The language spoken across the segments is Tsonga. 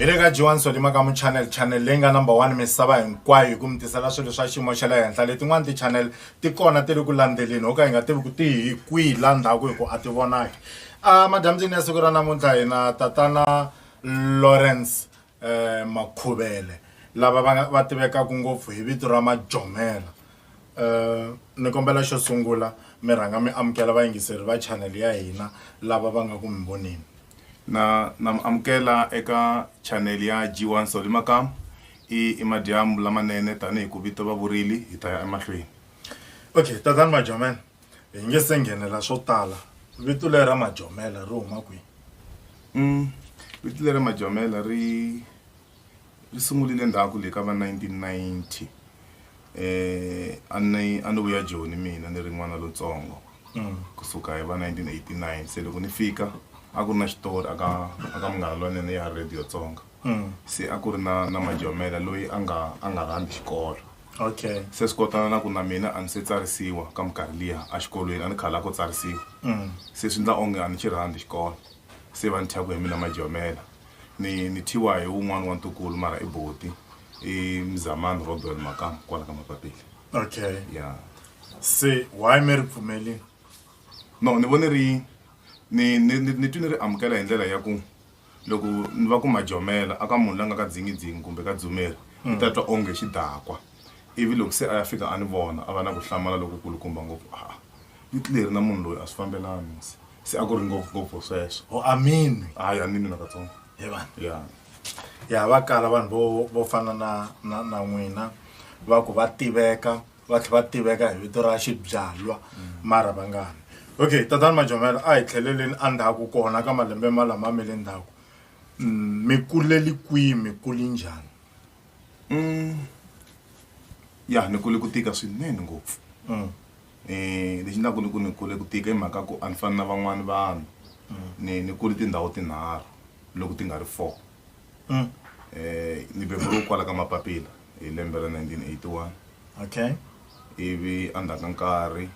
hi le ka jiwani sodima ka muchannel channel leyi nga number one misava hinkwayo hi ku mi tisela swilo swa xiyimo xa le henhla letin'wani ti-channel ti kona ti ri ku landzeleni ho ka hi nga tivi ku ti hi kwihi la ndzhaku hi ku a ti vonaki a madyambyini ya siku ra namuntlha hina tatana lawrence Makhuvele lava va va tivekaka ngopfu hi vito ra Majomela ni kombela xo sungula mi rhanga mi amukela vayingiseri va channel ya hina lava va nga ku mi voneni na na mi amukela eka channel ya G1 Solly Makamu i i madyambu lamanene tanihi ku vito va vurile hi ta ya emahlweni okay tatani Majomela. hi nge se nghenela swo tala vito leri ra majomela ri huma kwihi mm, vito leri ra majomela ri ri sungulile ndzhaku le ka va 1990 eh a ni a ni vuya joni mina ni ri n'wana lontsongo mm. kusuka hi va 1989 se loko ni fika a ku ri na xitori aka aka munghana lwanene ya radio tsonga se a ku ri na na majomela loyi a nga a nga rhandzi xikolo okay se swi kotana na ku na mina a ni se tsarisiwa ka minkarhi liya exikolweni a ni khala ku tsarisiwa se swi endla onge a ni xi rhandzi xikolo se va ni thya ku hi mina majomela ni ni thyiwa hi wun'wani wa ntukulu mara i boti i mzamani robel makam kwala ka mapapila okay ya se why mi ri pfumelini no ni vone ri ni ni ni ni twi ni ri amukela hi ndlela ya ku Loko ni va ku majomela a ka munhu la nga ka dzingidzingi kumbe ka dzumeri, ni ta twa onge xidakwa. Ivi loko se a ya fika a ni vona, a va na ku hlamala loku kulukumba ngopfu, Aa! Vito leri na munhu loyi a swi fambelani, musi. Se a ku ri ngopfu, ngopfu sweswo. Oh, ameni. Hayi, a ni nwi nakatsongo. He vana. Ya. Ya, va kala vanhu vo, vo fana na, na, na n'wina, va ku va tiveka, va tlhe va tiveka hi vito ra xibyalwa mara va nga ni okay tatani majomela a hi tlheleleni endzhaku kona ka malembe ma lama mi le ndzhaku Mm, mi kuleli kwihi mi kuli njhani Mm. ya ni kule ku tika swinene ngopfu Mm. um lexi ndlaku ni ku ni kule ku tika i mhaka ku a ni fani na van'wani vanhu ni ni kule tindhawu tinharhu loko ti nga ri four Mm. Eh, ni beburiwe kwala ka mapapila hi lembe ra 1981 okay ivi endzhaku ka nkarhi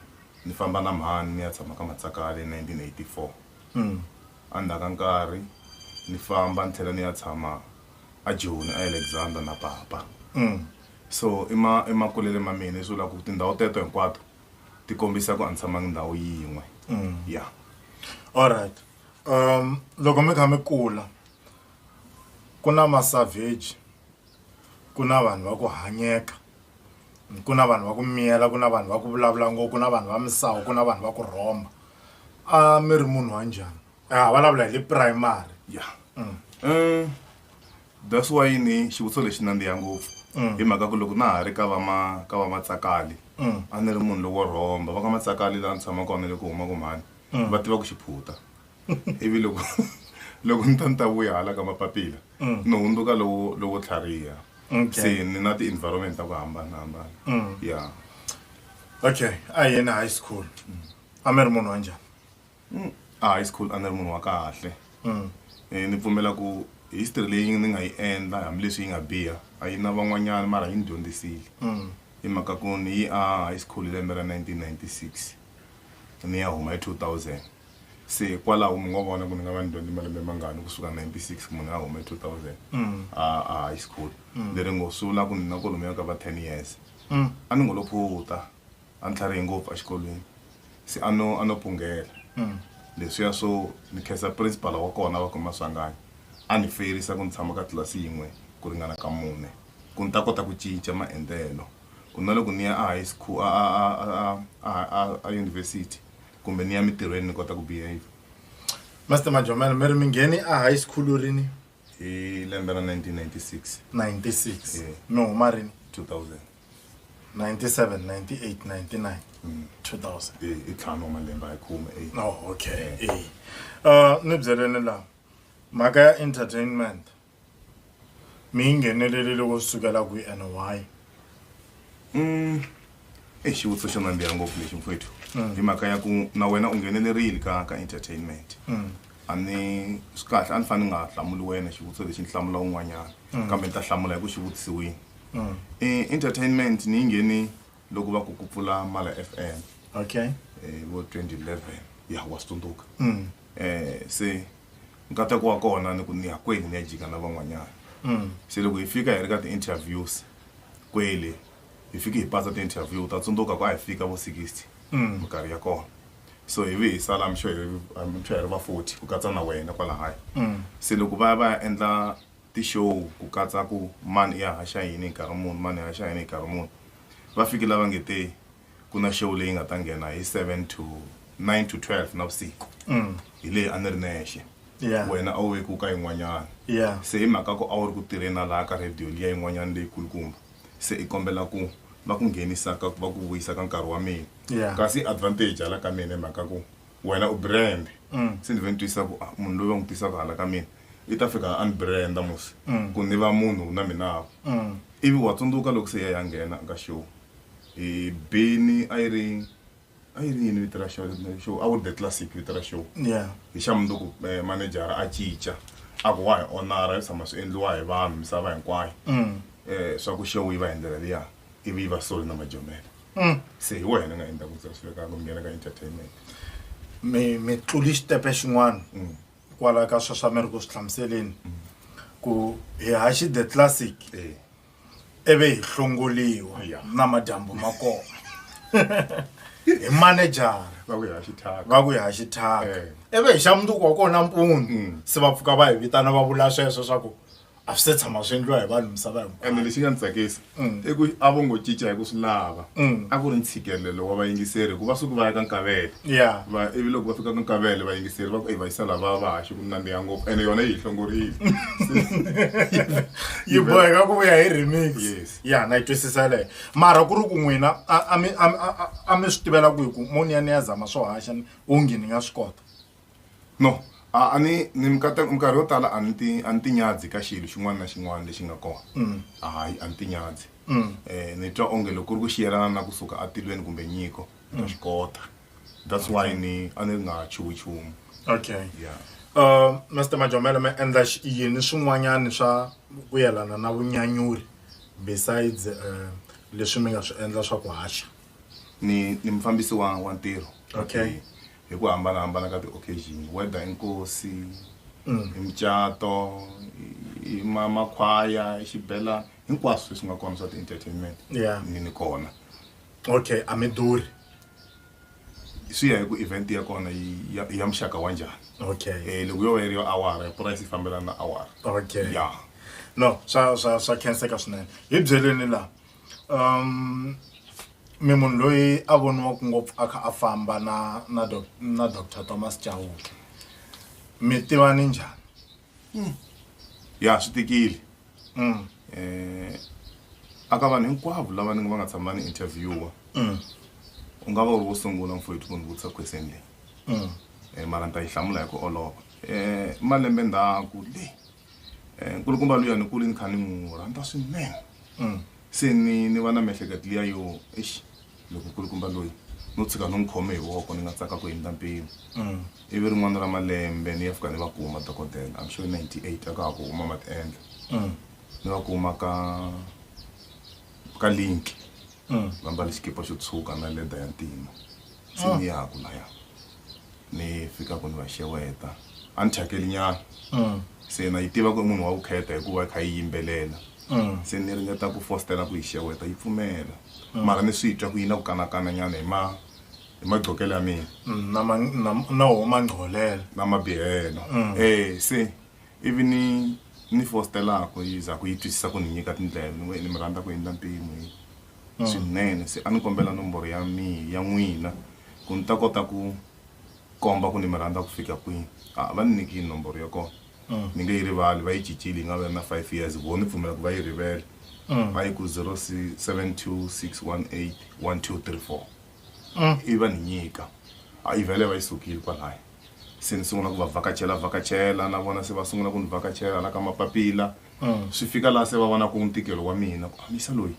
ni famba na mhani ni ya tshama ka matsakale hi 1984 mm. endzhaku ka nkarhi ni famba ni tlhela ni ya tshama ajoni aalexander na papa mm. so emakulele ma mina leswi vulaka ku tindhawu teto hinkwato ti kombisa ku a ni tshamangi ndhawu yin'we mm. ya yeah. allright um loko mi kha mi kula ku na ma savage ku na vanhu va ku hanyeka ku na vanhu va ku miyela ku na vanhu va ku vulavula ngo ku na vanhu va misava ku na vanhu va ku rhomba a mi ri munhu wa njhani a eh, vulavula hi le primary ya mm. eh, that's why ni xivutiso lexi nandziha ngopfu mm. hi mhaka ku loko na ha ri ka vama ka vamatsakali mm. a ni ri munhu loko rhomba va ka matsakali laha ni tshama kona loko huma kumhani va tiva ku xiphuta ivi loko loko ni ta ni ta vuya hala ka mapapila mm. ni hundzuka lowo lowo tlhariha se ni na ti-environment ta ku hambanahambana mm. ya okay a yena high school mm. a mi ri munhu wa njhani a high school a ni ri munhu wa kahle eh, ni pfumela ku history leyi ni nga yi endla hambileswi yi nga biha a yi na van'wanyana mara yi ni dyondzisile hi mhaka ku ni yi a high school hi lembe ra 1996 ni ya huma hi 2000 se hikwalaho mi nga vona ku ni nga va ni dyondze malembe mangani kusuka 96 ku munhu a hume 2000 mm. a a high school mm. leri ngo sula ku ni na kolomi ya ka va 10 years mm. a ni ngo lo phuta a ni tlharihi ngopfu exikolweni se a no a no punghela leswiya swo ni khensa principal wa kona va kuma swangani a ni feyirisa ku ni tshama ka tlilasi yin'we ku ringana ka mune ku ni ta kota ku cinca maendlelo ku na loko ni ya a high school a a a a a a university kumbe ni ya mitirhweni ni kota ku behave master majomela mi ri mi ngheni a high school rini hi lembe ra 1996 96 Yeah. mi huma rini 2000 97 98 99 2000 Eh, i ntlhanu wa malembe hi khume eight. no okay eh uh, ni byeleni la mhaka ya entertainment mi yi nghenelelile ku sukela kwi and why Mm. Ei, xivutiso xo nandziha ngopfu lexi mfwethu Mm. hi mhaka ya ku na wena u nghenelerile ka ka entertainment Mm. a ni swi kahle a ni fanele ni nga hlamuli wena xivutiso lexi ni hlamula un'wanyana Mm. kambe ni ta hlamula hi ku xi vutisiwini Mm. Eh, entertainment ni yi ngheni loko va ku ku pfula mala f m okay eh, vo 2011 ya wa swi tsundzuka Mm. eh se nkateko wa kona ni ku ni ya kwele ni ya jika na van'wanyana mm. se loko hi fika hi ri ka ti-interviews kwele hi fike hi pasa ti-interview ta tsundzuka ku a hi fika vo 60 mm. minkarhi ya kona so hi vi hi sala mixo hi ri va 40 ku katsa na wena kwala haya mm. se loko va ya va ya endla ti-show ku katsa ku mani i ya haxa yini hi nkarhi muni mani i ya haxa yini hi nkarhi muni va fike lava nge te ku na show leyi nga ta nghena hi 7 to 9 to 12 navusiku mm. hi leyi a ni ri nexe yeah. wena a wu vekiwu ka yin'wanyana yeah. se hi mhaka ku a wu ri ku tirheni na laha ka radio liya yin'wanyana leyikulukumba se i kombela ku va ku nghenisa ka va ku vuyisa ka nkarhi wa mina yeah. kasi advantage hala ka mina hi mhaka ku wena u brand mm. se ni ve ni twisa ku ah, munhu loyi va n'wi tisaka hala ka mina i ta fika a ni branda musi mm. ku ni va munhu na minavu mm. ivi wa tsundzuka loko se ya ya nghena ka show e beni a yi ri a yi ri yini vito ra show show a ku ri the classic vito ra show yeah hi xa mundzuku eh, manejara a cinca a ku wa hi onara yo tshama swi endliwa hi vanhu misava hinkwayo um swa ku show yi va hi ndlela liya ivi yi va solo na majomela um se hi wena nga endla ku tsasifekaka ku nghena ka entertainment mi mi tluli xitepe xin'wana Mm. kwala ka sweswa mi ri ku swi hlamuseleni ku hi haxi the classic Eh, ivi hi hlongoliwa na madyambu ma kona hi manejara va ku hi ha xithaka eh. ivi hi xa munduku wa kona mpundu mm. se va pfuka va hi vitana va vula sweswo swa ku a swi se tshama swi endliwa hi vanhu misava hinkwaende lexi nga ni tsakisa mm. i ku a vo ngo cinca hi ku swi lava mm. a ku ri ntshikelelo wa vayingiseri hikuva suku va ya ka nkavele Yeah. va ivi loko va fika ka nkavele vayingiseri va ku eyi vayisa lava va haxe ku nandziha ngopfu ene yona yi hi hlongorile yi boheka ku vuya hi remix Yes. ya na yi twisisa leyo mara ku ri ku n'wina a- a mi- a mi- a- a- a mi swi tivela ku hi ku mo ni ya ni ya zama swo haxa ni- onge ni nga swi kota no a a ni ni mikata minkarhi yo tala a ni ti a ni tinyadzi ka xilo xin'wana na xin'wana lexi nga kona hayi a ni tinyadzi um ni twa onge loko ku ri ku xiyelana na kusuka atilweni kumbe nyiko na swi kota that's why ni a ni nga chuhi chumu okay yeah uh Mr Majomela ma endla yini swin'wanyana swa ku yelana na vunyanyuri besides uh, leswi mi nga swi endla swa ku haxa ni ni mufambisi wa wa ntirho okay hi ku hambanahambana ka ti-occasion whether inkosi mm. imitshato makhwaya xibelani hinkwaswo leswi nga kona swa ti-entertainment ni ni kona okay a mi durhi swi ya hi ku event ya kona yi- ya ya muxaka wa njhani okay Eh, loko yo va yi ri yo awara price yi fambelana na awara okay ya no swa swa swa khenseka swinene hi byeleni laha um mi munhu loyi a voniwaka ngopfu a kha a famba na na doc- na dr thomas chauke mi tivani njhani ya swi tikile um aka vanhu hinkwavo lava ni nga va nga tshama ni interviewa u nga va u ri wo sungula mfowethu ku ni vutisa question leyi um mara ni ta yi hlamula hi ku olova um malembe ndzhaku le um nkulukumba luya ni kule ni kha ni n'wi rhandza swinene se ni ni va na miehleketo liya yo exi loko kulukumba loyi no tshuka ni n'wi khome hi voko ni nga tsaka ku hindza mpimo mm. ivi rin'wana ra malembe ni ya fika ni va ku huma dokodela am sure 98 a ka ha ku huma ma ti endla mm. ni va ku huma ka ka link mm. va mbale xikipa xo tshuka na leda ya ntima se ni yaku laya ni fikaka ni va xeweta a ni thyakelinyana mm. se na yi tiva ku i munhu wa ku kheta hikuva yi kha yi yimbelela mm. se ni ringeta ku fostela ku yi xeweta yi pfumela mm. mara ni swi twa ku yi na ku kanakananyana hi ma hi magqokelo ya mina na wo mangqolelo na mabihelo e se ivi ni ni fostelaka yi za ku yi twisisa ku ni nyika tindlela ni mi rhandza ku endla mpimo swinene se a ni kombela nomboro ya mi ya n'wina ku ni ta kota ku komba ku ni mi rhandza ku fika kwini a va ni nyiki nomboro ya kona ni nge yi rivali va yi cincile yi nga va na five years vo ni pfumela ku va yi rivele va yi ku zero seven two six one eight one two three four i va ni nyika a yi vhele va yi sukile kwalaya se ni sungula ku va vhakachela vhakachela na vona se va sungula ku ni vhakachela hala ka mapapila Swi fika laha se va vonaka ntikelo wa mina ku Amisa loyi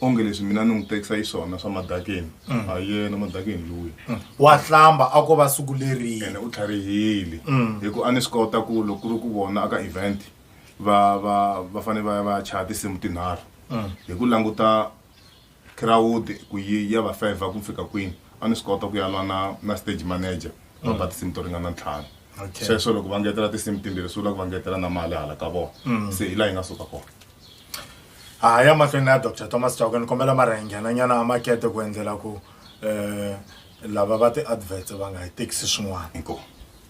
onge leswi mina ni n'wi tekisa hi swona swa madakeni ha yena madakeni luya Wa hlamba a ko va siku leriya. ene u tlharihile hi ku a ni swi kota ku loko ku ri ku vona aka event va va va fanele va ya va ya chaya tinsimu tinharhu hi ku languta Khirawudi ku yi ya va fevha ku fika kwini, a ni swi kota ku ya lwa na na stage manager va ba tinsimu to ringana ntlhanu. Okay. Sweswo loko va ngetela tinsimu timbirhi swi vula ku va ngetela na mali hala ka vona. Se hi laha yi nga suka kona. Ha ha ya mahlweni na Doctor Thomas Chauke ni kombela mara hi nghena nyana a makete ku endlela ku eh lava va ti adverts va nga hi tekisi swin'wana. Inkomu.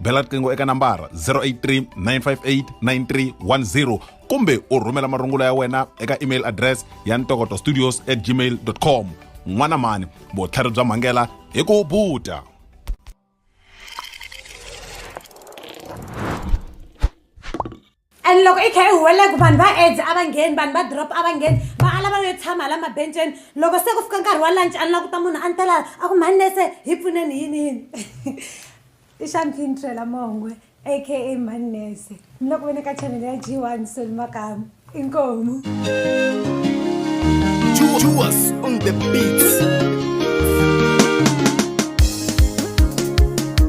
bela riqingho eka nambara 083 958 9310 kumbe u rhumela marungula ya wena eka email address ya ntokoto studios at gmail com n'wana mani vutlhari bya mhangela hi ku buta and loko i kha i huwelela ku vanhu va aids a va ngheni vanhu va drop a va ngheni va ala va yo tshama la mabenceni loko se ku fika nkarhi wa lunch a ni la ku ta munhu a ni ta lava a ku mhani nese hi pfuneni yini yini i xampini trela mongwe aka mhani nese ni loko ve ni ka chanele ya g one soli makamu inkomu Juas on the beats.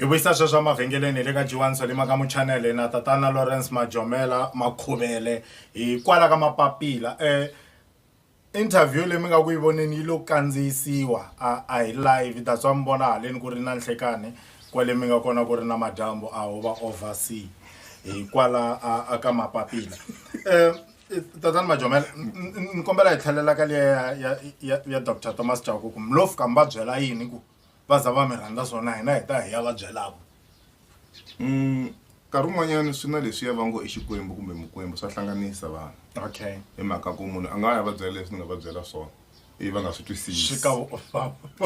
hi vuyisa sweswo emavhengeleni le ka jiwani swa le maka muchanele na tatana lawrence majomela makhuvele hikwala ka mapapila um interview leyi mi nga ku yi voneni yi lo kandziyisiwa a hi live that's wa mi vona haleni ku ri na nhlekani kwale mi nga kona ku ri na madyambu a ho va oversea hikwala a ka mapapila um tatani majomela ni kombela hi tlhelela ka leya ya, ya, ya dr thomas chauku ku mi lo fika mi va byela yini ku va za va mi rhandza swona hina hi ta hi ya va byelaka mm, nkarhi wun'wanyana swi na leswi ya va ngo i xikwembu kumbe mukwembu swa hlanganisa vanhu okay hi mhaka ku munhu a nga ya va byela leswi ni nga va byela swona ivi va nga swi twisisi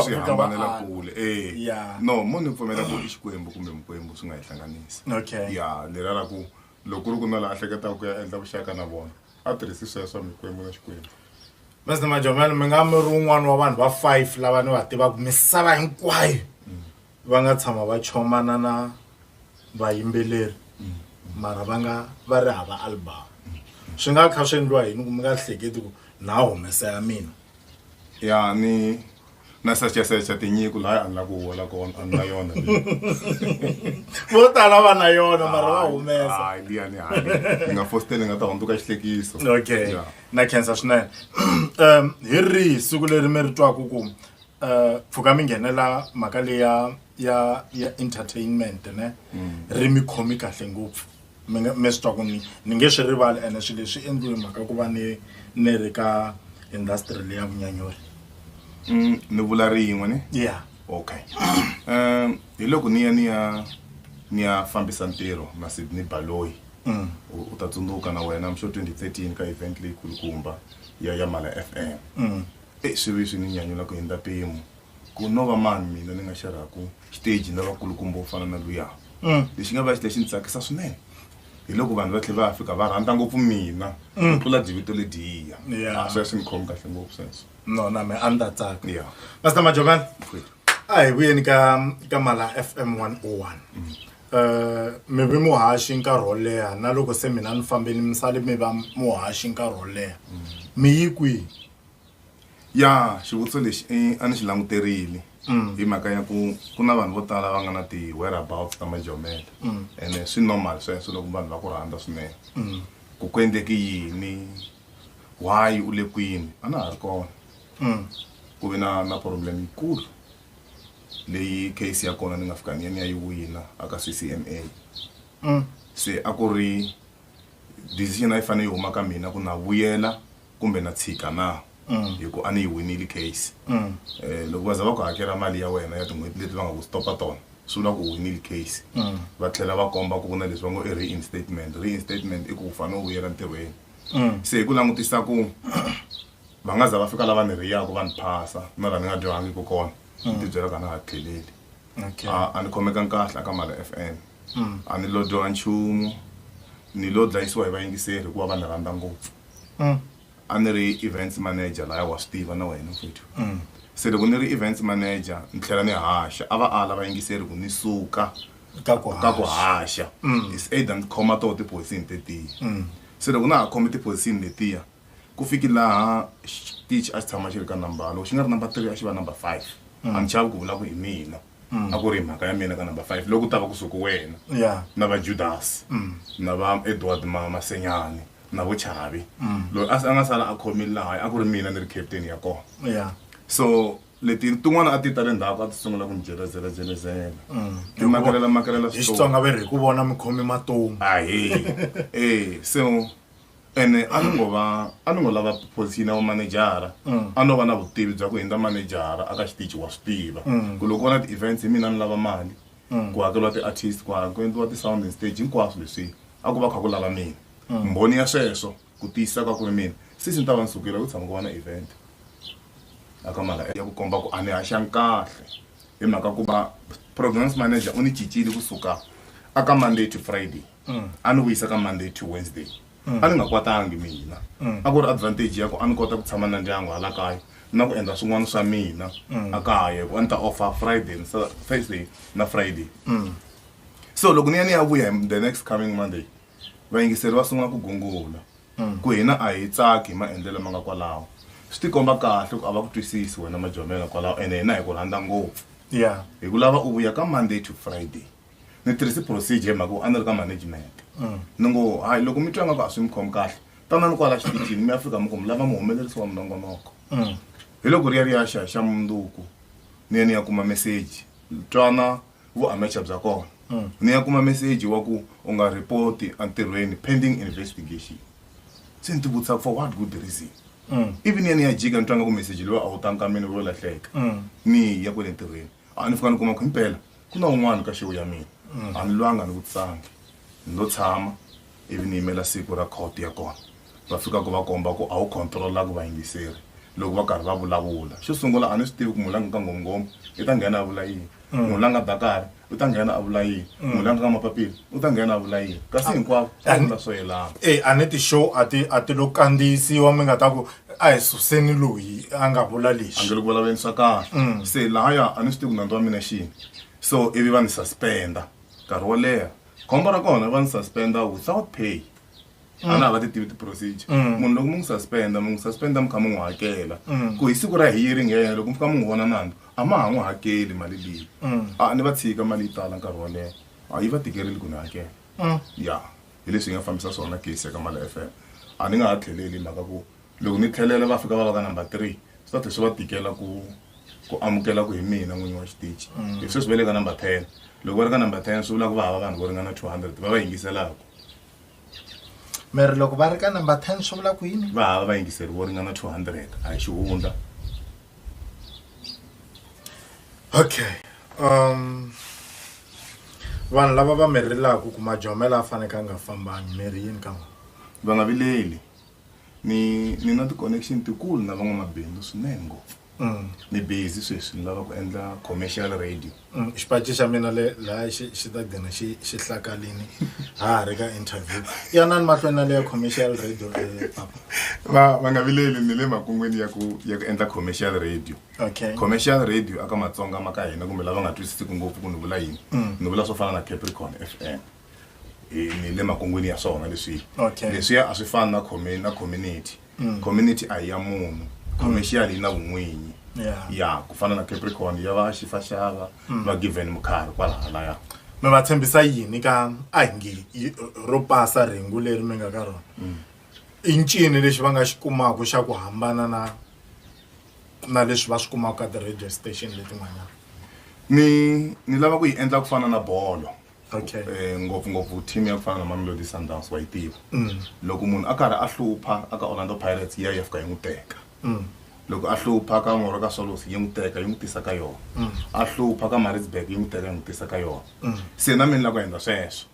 swi hambanela kule e no mo ni pfumela ku i xikwembu kumbe mukwembu swi nga hi hlanganisi okay ya lera ra ku Loko ku ri ku na la a hleketaka ku ya endla vuxaka na vona a tirhisi sweswo mikwembu na xikwembu Mr Majomela mi nga mi ri un'wana wa vanhu va five lava ni va tivaka misava hinkwayo va nga tshama va chomana na vayimbeleri mara va nga va ri hava album swi nga kha swi endliwa yini ku mi nga hleketi ku na humesa ya mina ya ni na sechasecha tinyiko laha a ni lava ku hola kona a ni na yona vo tala va na yona mara va humesa liya ni hali ni nga fositele ni nga ta hundzuka xihlekiso okay yeah. na khensa swinene um hi rihi siku leri mi ri twaku ku um uh, pfuka mi nghenela mhaka leya ya ya entertainment ne mm. ri mi khomi kahle ngopfu mi nga mi swi twa ku ni ni nge swi rivali ene swilo leswi endliwe mhaka ku va ni ni ri ka industry leya vunyanyuri mm, ni vula ri yin'we ni ya okay um hi loko ni ya ni ya ni ya fambisa ntirho na sidney baloyi mm. u ta tsundzuka na wena mxo 2013 ka event leyi kulukumba ya ya mala f m mm. e swi vi swi ni nyanyula ku hindza mpimo ku no va mani mina ni nga xerhaku xiteji na vakulukumba wo fana na luya mm. lexi nga va xi lexi ni tsakisa swinene hi loko vanhu va tlhela va fika va rhandza ngopfu mina ku mm. tlula divito lediya ah, swi ya swi ni khomi kahle ngopfu sweswo no na me a ni ta tsaka ya pastor majovana a hi vuyeni ka ka mala f m one o oh one mm. eh, mi vi muhaxi nkarhi wo leha na loko se mina ni fambeni mi sale mi va muhaxi nkarhi wo leha mi yi kwihi ya xivutiso lexi eh, a ni xi languterile hi mhaka ya ku ku na vanhu vo tala va nga na ti-whereabouts ta majomela ene swi normal sweswo loko vanhu va ku rhandza swinene ku ku endleke yini why u le kwini a na ha ri kona ku ve na na problem yikulu leyi case ya kona ni nga fika ni ya ni ya yi wina aka ccma se a ku ri decision a yi fanele yi huma ka mina ku na vuyela kumbe na tshika na hi ku a ni yi winile case um loko va za va ku hakela mali ya wena ya tin'hweti leti va nga ku stopa tona swi vula ku u winile case va tlhela va komba ku ku na leswi va ngo i reinstatement reinstatement i ku u fanele u vuyela ntirhweni se hi ku langutisa ku va nga za va fika lava ni riyaka va ni phasa na laha ni nga dyohangiki kona ni tibyela ku a na ha tlheleli okay a a ni khomeka kahle aka mali f m a ni lo dyoha nchumu ni lo dlayisiwa hi vayingiseri hikuva va ni rhandza ngopfu mm. a ni ri events manager laya wa swi tiva na wena mfethu mm. se loko ni ri events manager ni tlhela ni haxa a va a lava yingiseri ku ni suka ka ku haxa mm. is either ni khoma toho tipozisini tetiya mm. se loko na ha khome tipozisini letiya ku fiki laha xitichi a xi tshama xi ri ka number loko xi nga ri number three a xi va number five mm. a ni chavi ku vula ku hi mina a ku ri hi mhaka ya mina ka number five loko u ta va kusuku wena Yeah. na va judasi Mm. na va edward ma- masenyani na vo chavi Mm. loyi a a nga sala a khomile laha a ku ri mina ni ri captain ya kona Yeah. so leti tin'wana a ti ta le ndzhaku a ti sungula ku ni jelezelajelezelela Mm. ti makalela makalela hi xitsonga ve ri hi ku vona mi khomi matomu ahe e so ene a ni ngo va a ni ngo lava posiyini ya vumanejara Mm. a no va na vutivi bya ku hindza manejara aka xitichi wa swi tiva Mm. ku loko ku va na ti-events hi mina ni lava mali Mm. ku hakeriwa ti-artist ku ha- ku endliwa ti-sound and stage hinkwaswo leswi a ku va kha ku lava mina Mm. mbhoni ya sweswo ku tiyisisa ka ku ri mina sisi ni ta va ni sukile ku tshama ku va na event aka mala ya ku komba ku a ni haxangi kahle hi mhaka ku va programs manager u ni cincile kusuka aka monday to friday mm. a ni vuyisa ka monday to wednesday mm. a ni nga kwatangi mina mm. a ku ri advantage ya ku a ni kota ku tshama na ndyangu hala kaya na ku endla swin'wana swa mina mm. a kaya ku a ni ta offer friday and thursday na friday mm. so loko ni ya ni ya vuya the next coming monday vayingiseri va sungula ku gungula mm. ku hina a hi tsaki hi maendlelo ma nga kwalawo swi tikomba kahle ku a va ku twisisi wena majomela kwalawo ene hina hi ku rhandza ngopfu ya hi ku lava u vuya ka monday to friday ni tirhise procedure hi mhaka ku a ni ri ka management mm. ni ngo hayi loko mi twa nga ku a swi mi khomi kahle tanani kwala xitichini mi afrika mi ku mi lava muhumelerisi wa minongonoko mm. hi loko ri ya ri ya xa xa munduku ni ya ni ya kuma meseji twana vuamecha bya kona mm. ni ya kuma meseji wa ku u nga ripoti entirhweni pending investigation se ni ti vutisa for what good reason ivi ni ya ni ya jika ni twa nga ku meseji loyi a wu tanga ka mina ro lahleka ni ya kwele ntirhweni a ni fika ni kuma ku himpela ku na un'wana ka xewu ya mina mm. a ni lwanga ni vutisangi ni lo tshama ivi ni yimela siku ra court ya kona va fika ku va komba ku a wu controla ku vayingiseri loko va karhi va vulavula xo sungula a ni swi tivi ku munhu la nga ka ngomngoma i ta nghena a vula yini mm. munhu la nga dakari u ta nghena a vula yini mm. munhu la nga ka mapapila u ta nghena a vula yini kasi ah, hinkwavo a vula swo yelana e a ni ti-show a ti a ti lo kandziyisiwa mi nga ta ku a hi suseni loyi a nga vula a nge lexi le ku vulavuleni swa kahle Mm. se lahaya a ni swi tivi ku nandzu wa mina xini so ivi va ni suspenda nkarhi wo leha khombo ra kona va ni suspenda without pay a na ha va ti tivi ti-procedure Mm. munhu loko mi n'wi suspenda mi n'wi suspenda mi kha mi n'wi hakela Mm. ku hi siku ra hearing ya yena loko mi fika mi n'wi vona nandzu a ma ha n'wi hakeli mali leyi Mm. a ni va tshika mali yi tala nkarhi wo leha a yi va tikerile ku ni hakela mm. ya hi leswi hi nga fambisa swona case ka mala fm a ni nga ha tlheleli mhaka ku loko ni tlhelela va fika va va ka number three swi ta tlhe swi va tikela ku ku amukela ku hi mina n'winyi wa xitichi mm. hi sweswi va le ka number ten loko va ri ka number ten swi vula ku va hava vanhu vo ringana two hundred va va yingiselaka miri loko va ri ka number ten swi vula ku yini va hava vayingiseri vo ringana two hundred a hi xihundla okay um vanhu lava va mi rilaka ku majomela a faneke a nga fambangi mi ri yini ka vona va nga vileli ni ni na ti-connection tikulu na van'wamabindzu swinene ngopfu mm. ni busy sweswi ni lava ku endla commercial radio mm, xipaci xa mina le laya xi ta gina xi xi hlakalini ha ha ri ka interview yanani mahlweni na leya commercial radio eh, papa va va nga vileli ni le makungwini ya ku ya ku endla commercial radio okay. commercial radio aka matsonga ma ka hina kumbe lava nga twisisiki ngopfu ku ni vula yini mm. ni vula swo fana na capricorn f m ni le makungwini ya swona leswiya okay. leswiya a swi fani na na community mm. community a yi ya munhu mm. commercial yi na vun'winyi yeah. ya ku fana na capricorn ya va xifaxava mm. va given mukhari kwalahalaya mi va tshembisa yini ka a hi ngi ro pasa rhengu leri mi nga ka rona mm. i ncini lexi va nga xi kumaka xa ku hambana na na leswi va swi kumaka ka ti-radio station letin'wanyana ni ni lava ku yi endla ku fana na bolo okay um ngopfungopfu team ya ku fana na mamelodi sundowns wa yi tiva mm. loko munhu a karhi a hlupha aka orlando pirates ya ya fika yi n'wi teka mm. loko a hlupha ka moro ka solos yi n'wi teka yi n'wi tisa ka yona mm. a hlupha ka maritzburg yi n'wi teka yi n'wi tisa ka yona se na mina la ku endla sweswo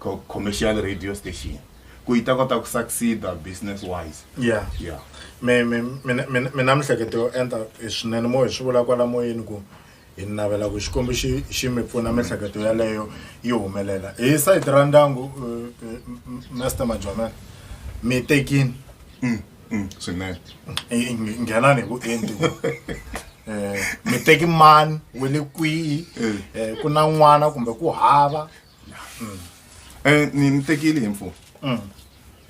co commercial radio station ku yi ta kota ku succeeda business wise ya ya mi mi mina mina mina mihleketo yo enta hi swinene mo hi swi vula kwala moyeni ku hi navela ku xikwembu xi xi mi pfuna mihleketo yaleyo yi humelela hi sayiti ra ndyangu eh, eh, m- m- master majomela mi tekini Mm, mm, swinene Eh, nge- nghenani hi vuenti ku eh, mi teki mani we le kwihi Eh. eh, ku na n'wana kumbe ku hava Mm. Eh, ni ni tekile info Mm.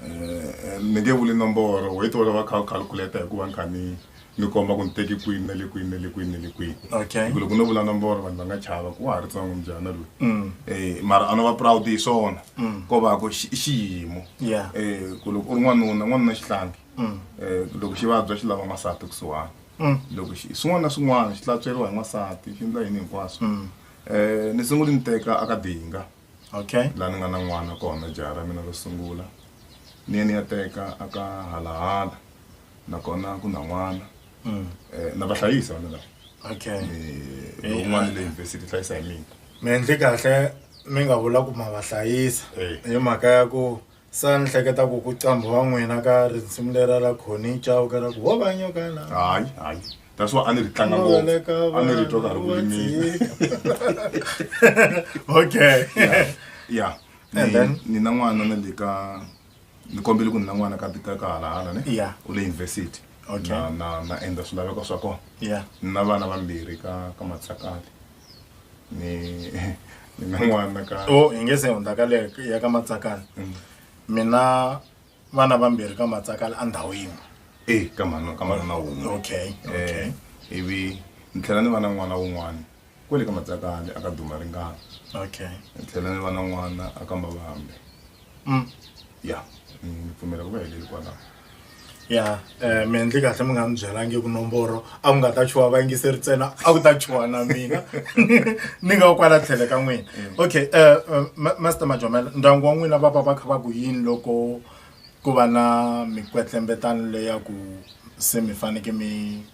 Eh, ni nge vuli nomboro wait va va kha u calculate hikuva ni kha ni ni komba ku ni teki kwini na le kwini na le kwini na le kwini Okay. Hi ku loko no vula nomboro vanhu va nga chava ku wa ha ri tsongo mbyana loyi Mm. Eh, mara a no va proud hi swona Mm. ko va ku xi- i xiyimo Yeah. Eh, ku loko u ri n'wanuna n'wanuna xihlangi Mm. Eh, loko xi vabya xi lava n'wansati kusuhani Mm. loko xi swin'wana na swin'wana xi tlatsweriwa hi n'wansati xi endla yini hinkwaswo Mm. Eh, ni sunguli ni teka aka dinga okay la ni nga na n'wana kona jaha ra mina ro sungula ni ye ni ya teka aka halahala nakona ku na n'wana mm. eh, na va hlayisa vana lava okay eh, lowun'wana le yunivhesiti hlayisa hi mina mi endli kahle mi nga vula ku ma va hlayisa hi mhaka ya ku sa ni hleketa ku ku qambha wa n'wina ka risimu lera ra khoni cawu ka ra ku wo va nyokana hayi hayi that's why a ni ri tlanga ngopfu Noleka a ni ri twa ka ri vanhu va kulimile okay ya And then? ni na n'wana na le ka ni kombele ku ni na n'wana ka ka ka halahala ne Yeah. u le university Okay. na na na endla swilaveko swa kona yeah ni na vana vambirhi ka ka matsakati ni ni na n'wana ka so hi nge se hundza ka le ya ka matsakani Mm. mina vana vambirhi ka matsakani a ndhawu yin'we eh ka mhana ka mhana na wun'we okay okay eh ivi ni tlhela ni va na n'wana wun'wana kwele ka matsakani a ka duma ringana okay ni tlhela ni va na n'wana a ka mavambe mm. ya ni pfumela ku va heleli kwalaho ya um mi endli kahle mi nga mi byelangi ku nomboro a ku nga ta chuwa vayingiseri ntsena a ku ta chuwa na mina ni nga kwala tlhele ka n'wina mm. okay um master majomela ndyangu wa n'wina va va va kha va ku yini loko ku va na mikwetlembetano leya ku se mi faneke mi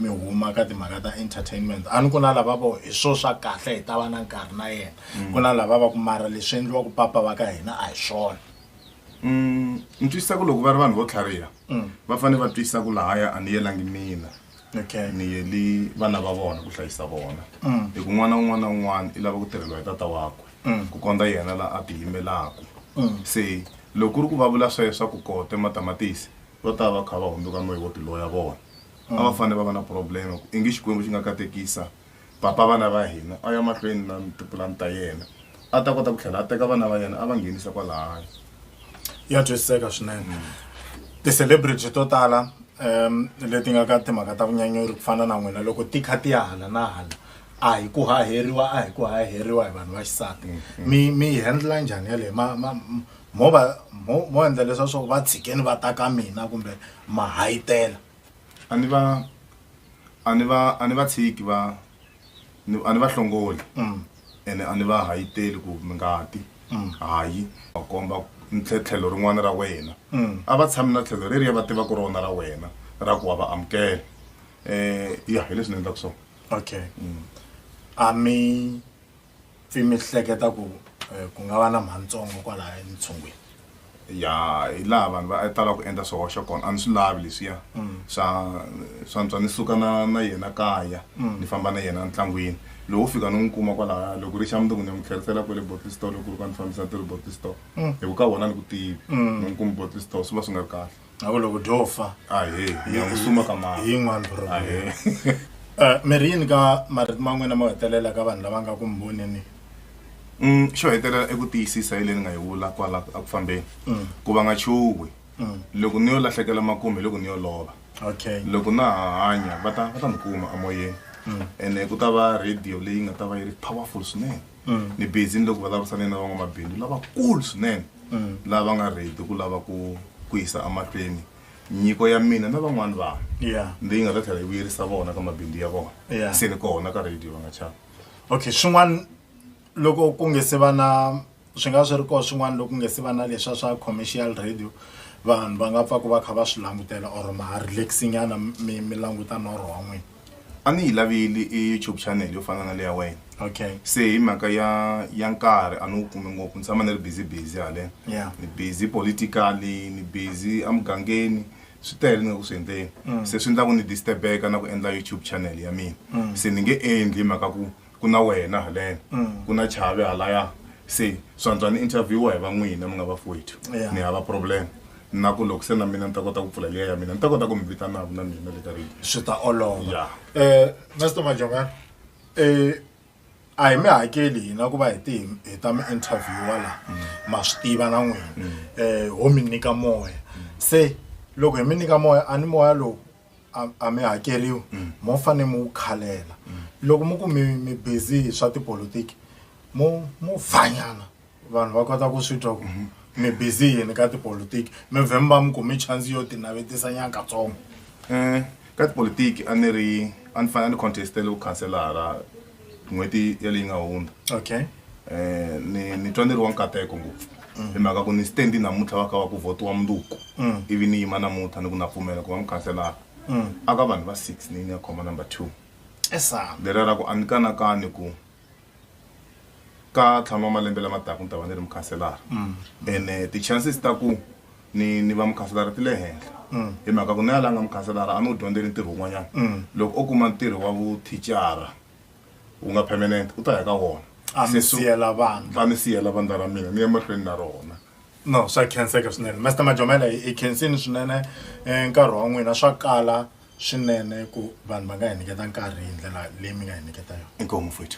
mi huma ka timhaka ta entertainment a ni ku na lava vo hi swo swa kahle hi ta va na nkarhi na yena mm. ku na lava va ku mara leswi endliwa ku papa va ka hina a hi swona Mm, ni twisisa ku loko va ri vanhu vo tlhariha mm. va fanele va twisisa ku lahaya a ni yelangi mina okay. ni yeli vana va vona ku hlayisa vona mm. hi ku n'wana un'wana na un'wana i lava ku tirheliwa hi tata wakwe mm. ku kondza yena la a tiyimelaku mm. se loko ku ri ku va vula sweswo swa ku kote matamatisi va ta va kha va hundzuka moya wo tiloya vona a va mm. fanele va va na problema i nge xikwembu xi nga katekisa Papa vana va hina a ya mahlweni na tipulani ta yena, a ta kota ku tlhela a teka vana va yena a va nghenisa kwalahaya. Ya twisiseka swinene. Ti-celebrity to tala leti nga ka timhaka ta vunyanyuri ku fana na n'wina loko ti kha ti ya hala na hala a hi ku haheriwa a hi ku haheriwa hi vanhu va xisati mi mi yi handle-a njhani yaleyo ma ma mo va mo mo endla leswa swa ku va tshikeni va ta ka mina kumbe ma hahitela. a ni va a ni va a ni va tshiki va ni- a ni va hlongoli ene a ni va hayiteli ku mi nga ti hayi va komba ni tlhe- tlhelo rin'wana ra wena a va tshami na tlhelo reriya va tivaka rona ra wena ra ku wa va amukela um ya hi leswi ni endlaka swona okay a mi pfi mi hleketa ku eh, ku nga va na mhantsongo kwalaya entshungwini ya hi laha vanhu va tala ku endla swihoxo kona a ni swi lavi leswiya swa swa ntswa ni suka na na yena kaya ni famba na yena ntlangwini lowu fika ni n'wi kuma kwalaya loko ri xa mundzuku ni ya n'wi tlherisela kwele bottle store loko ri ka ni fambisa ti ri bottle store hi ku ka wona ni ku tivi ni n'wi kumi bottle store swi va swi nga ri kahle a ku loko dyo fa a he hi ya ku suma ka mama hi yin'wani problem a he Eh, mi ri yini ka marito ma n'wina mo hetelela ka vanhu lava nga ku mi voneni Mm, xo hetelela eku tiyisisa hi leyi ni nga yi vula kwala a ku fambeni ku va nga chuhi loko ni yo lahlekela makume hi loko ni yo lova okay loko na ha hanya va ta va ta ni kuma amoyeni ene ku ta va radio leyi nga ta va yi ri powerful swinene mm. ni busy ni le ku vulavurisane na van'wamabindzu lavakulu swinene mm. lava nga ready ku lava ku ku yisa emahlweni nyiko ya mina na van'wani vanhu yeah. leyi nga ta tlhela yi vuyerisa vona ka mabindzu ya vona yeah. se ni kona ka radio va nga chava okay swin'wana loko ku nge se va na swi nga swi ri koho swin'wana loko ku nge se va na leswa swa commercial radio vanhu va nga pfa ku va kha va swi langutela or ma relaxingana mi mi languta norho wa n'wina a ni yi laveli i youtube channel yo fana na leya wena okay se hi mhaka ya ya nkarhi a ni wu kumi ngopfu ni tshama ni ri busy busy haleno Yeah. ni busy politically ni busy emugangeni swi tele ni nga ku swi endleni se swi endla ku ni disturb-eka na ku endla youtube channel ya mina se ni nge endli hi mhaka ku ku na wena haleno mm. ku na chave halaya se swantswa ni interviewa hi va n'wina mi nga vafowethu ni hava problem na ku loko se na mina ni ta kota ku pfula liya ya mina ni ta kota ku mi vitanaku na mina le ka ri swi ta olova um mister majonga um a hi mi hakeli hina ku va hi ti hi ta mi interviewa laha mm. ma swi tiva na n'wina um ho mi nyika moya mm. se loko hi mi nyika moya a ni moya lowu a- a mi hakeriwi mo fane mu wu khalela loko mu ku mi mi busy hi swa tipolotiki mo mo vhanyana vanhu va kota ku swi twa ku mi busy yini ka tipolotiki mi vhe mi va mi kumi chance yo tinavetisa nyakatsongo um ka tipolotiki a ni ri a ni fanele a ni contestele vukhanselara n'hweti ya leyi nga hundza okay eh ni ni twa ni ri wa nkateko ngopfu hi mhaka ku ni stand namuntlha wa ka wa ku votiwa munduku ivi ni yima namuntlha ni ku na pfumela ku va mukhanselara a ka vanhu va six ni ni ya khoma number two esa lera ra ku a ni kanakani ku ka tlhanu wa malembe lama taka ni ta va ni ri mukhanselara ene ti-chances ta ku ni ni va mukhanselara ti le henhla mm. hi mhaka ku na yalanga mukhanselara a ni wu dyondzeli ntirho wun'wanyana mm. loko o kuma ntirho wa vuthicara wu nga permanent u ta ya ka wona a mi siyela vandla a mi siyela vandla ra mina ni ya mahlweni na rona no swa khenseka swinene master majomela hi khensini swinene eh, nkarhi wa n'wina swa kala swinene ku vanhu va nga hi nyiketa nkarhi hi ndlela leyi mi nga hi nyiketa yona inkomu futhi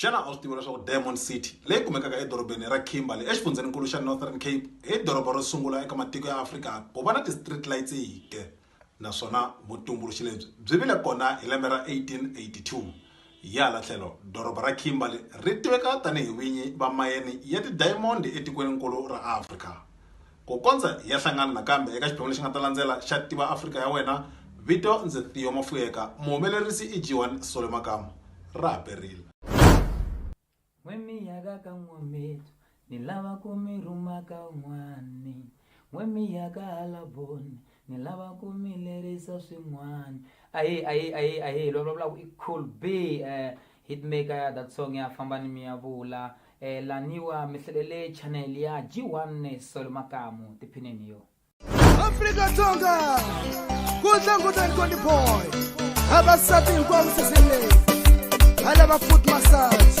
xana a swi tiva leswaku diamond city leyi kumekaka edorobeni ra kimberley exifundzhenikulu xa northern cape hi doroba ro sungula eka matiko ya afrika ku va na ti-street lights hike naswona vutumbuluxi lebyi byi vile kona hi lembe ra 1882 hi hala tlhelo doroba ra kimberley ri tiveka tanihi vinyi va mayeni ya tidayamondi etikweninkulu ra afrika Ku kondza hi ya hlangana nakambe eka xiphemu lexi nga ta landzela xa Tiva Afrika Ya Wena, vito ndzi Theo Mafuyeka, muhumelerisi i Jiwan Sole Makamu. Ra ha perile. N'we mi yaka ka N'wametu, ni lava ku mi rhuma ka un'wani. N'we mi ya ka hala Boni, ni lava ku mi lerisa swin'wani. Ahee, ahee, ahee, ahee, loyi a vulavulaka i Cool B. Hitmaker ya that song ya famba ni miyavula eh, laniwa mi hlalele channel ya G1 Solo Makamu tiphineni yo Afrika Dzonga ku tlangutani Conny Boy vavasati hinkwavo sisini leyi va lava foot massage